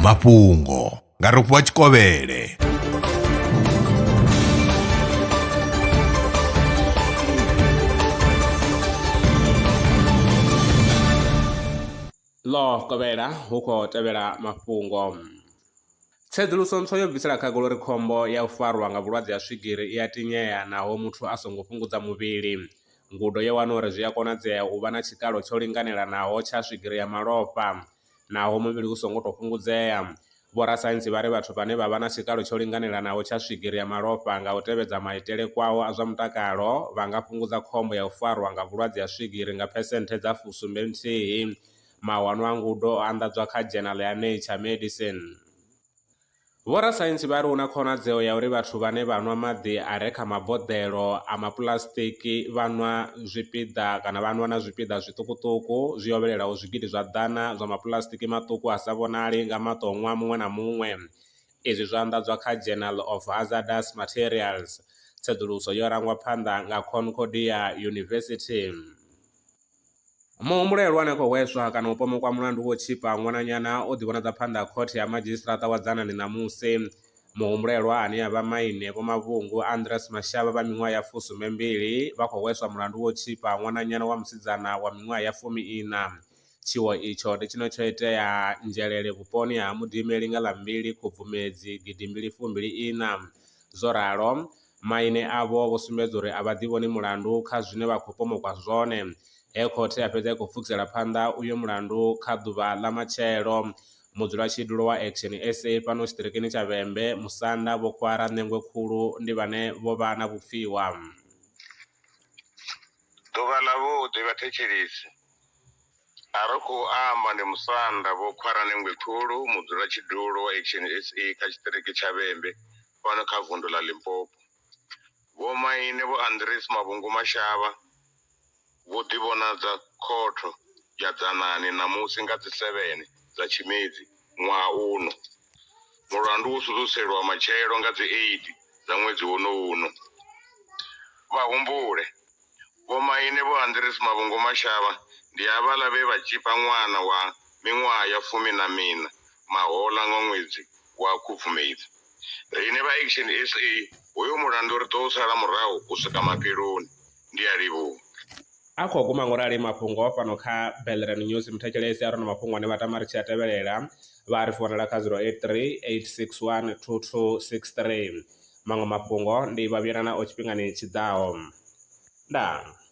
mafhungo nga rofhiwa tshikovhele ḽo kovhela hu khou tevhela mafhungo tsedzuluso ntswa yo bvisela khagala uri khombo ya u farwa nga vhulwadze ha swigiri i a tinyea naho muthu a songo fhungudza muvhili Ngudo yo wana uri zwi a konadzea u vha na tshikalo tsho linganelanaho tsha swigiri ya malofha naho muvhili u songo tou fhungudzea. Vhorasaintsi vha ri vhathu vhane vha vha na tshikalo tsho linganelanaho tsha swigiri ya malofha nga u tevhedza maitele kwao a zwa mutakalo vha nga fhungudza khombo ya u farwa nga vhulwadze ha swigiri nga phesenthe dza fu sumbe nthihi. Mawanwa a ngudo o anḓadzwa kha dzhenala ya Nature Medicine. Vhorasaintsi vha ri hu na khonadzeo ya uri vhathu vhane vha nwa maḓi a re kha maboḓelo a mapuḽasitiki vha nwa zwipiḓa kana vha nwa na zwipiḓa zwiṱukuṱuku zwi hovhelelaho zwigidi zwa ḓana zwa mapuḽasitiki maṱuku a sa vhonali nga maṱo ṅwaha muṅwe na muṅwe. Izwi zwo anḓadzwa kha Journal of Hazardous Materials. Tsedzuluso yo rangwa phanḓa nga Concordia University. Muhumbulo ihulwane khou hweswa kana u pomokwa mulandu wo tshipa ṅwananyana o ḓivhonadza phanḓa ha khothe ya madzhisiṱiraṱa wa Dzanani ṋamusi. Muhumbulelwa ane a vha maine Vho Mavhungu Andress Mashaba vha miṅwaha ya fusumbe mbili vha khou hweswa mulandu wo tshipa ṅwananyana wa musidzana wa miṅwaha ya fumi iṋa. Tshiwo itsho ndi tshine tsho itea Nzhelele vhuponi ha Mudimeli nga ḽa mbili Khubvumedzi gidi mbili fumbili iṋa. Zwo ralo, Maine avho vho sumbedza uri a vha ḓivhoni mulandu kha zwine vha khou pomokwa zwone he khothe ya fhedza i khou pfukisela phanḓa uyo mulandu kha ḓuvha ḽa matshelo. Mudzulatshidulo wa Action sa fhano tshiṱirikini tsha Vhembe, Musanda, Vho Khwara Ṋengwe Khulu ndi vhane vho vha na vhupfiwa. Ḓuvha ḽavhuḓi vhathetshelesi, a ri khou amba ndi Musanda, Vho Khwara Ṋengwe Khulu, mudzulatshidulo wa Action sa kha tshiṱiriki tsha Vhembe, fhano kha vundu ḽa Limpopo. Vhomaine Vho Andries Mavhungu Mashaba vho ḓivhonadza khotho ya Dzanani ṋamusi nga dzi 7 dza Tshimedzi ṅwaha uno. Mulandu wo sudzuselwa matshelo nga dzi 8 dza ṅwedzi wonowu uno. Vha humbule, Vhomaine Vho Andries Mavhungu Mashaba ndi avhaḽa vhe vha tzhipa ṅwana wa miṅwaha ya fumi na miṋa mahoḽa nga ṅwedzi wa Khubvumedzi. Riṋe vha Action sa hoyo mulandu ri ḓo u sala murahu u swika mafheloni. Ndi a livhuha. A khou guma ngorali mafhungo fhano kha Bellerin News. Muthetshelesi a re na mafhungo ane vha tama ri tshi a tevhelela vha a ri founela kha 0838612263. Maṅwe mafhungo ndi vha vhuyela nao tshifhingani tshi ḓaho. Ndaa.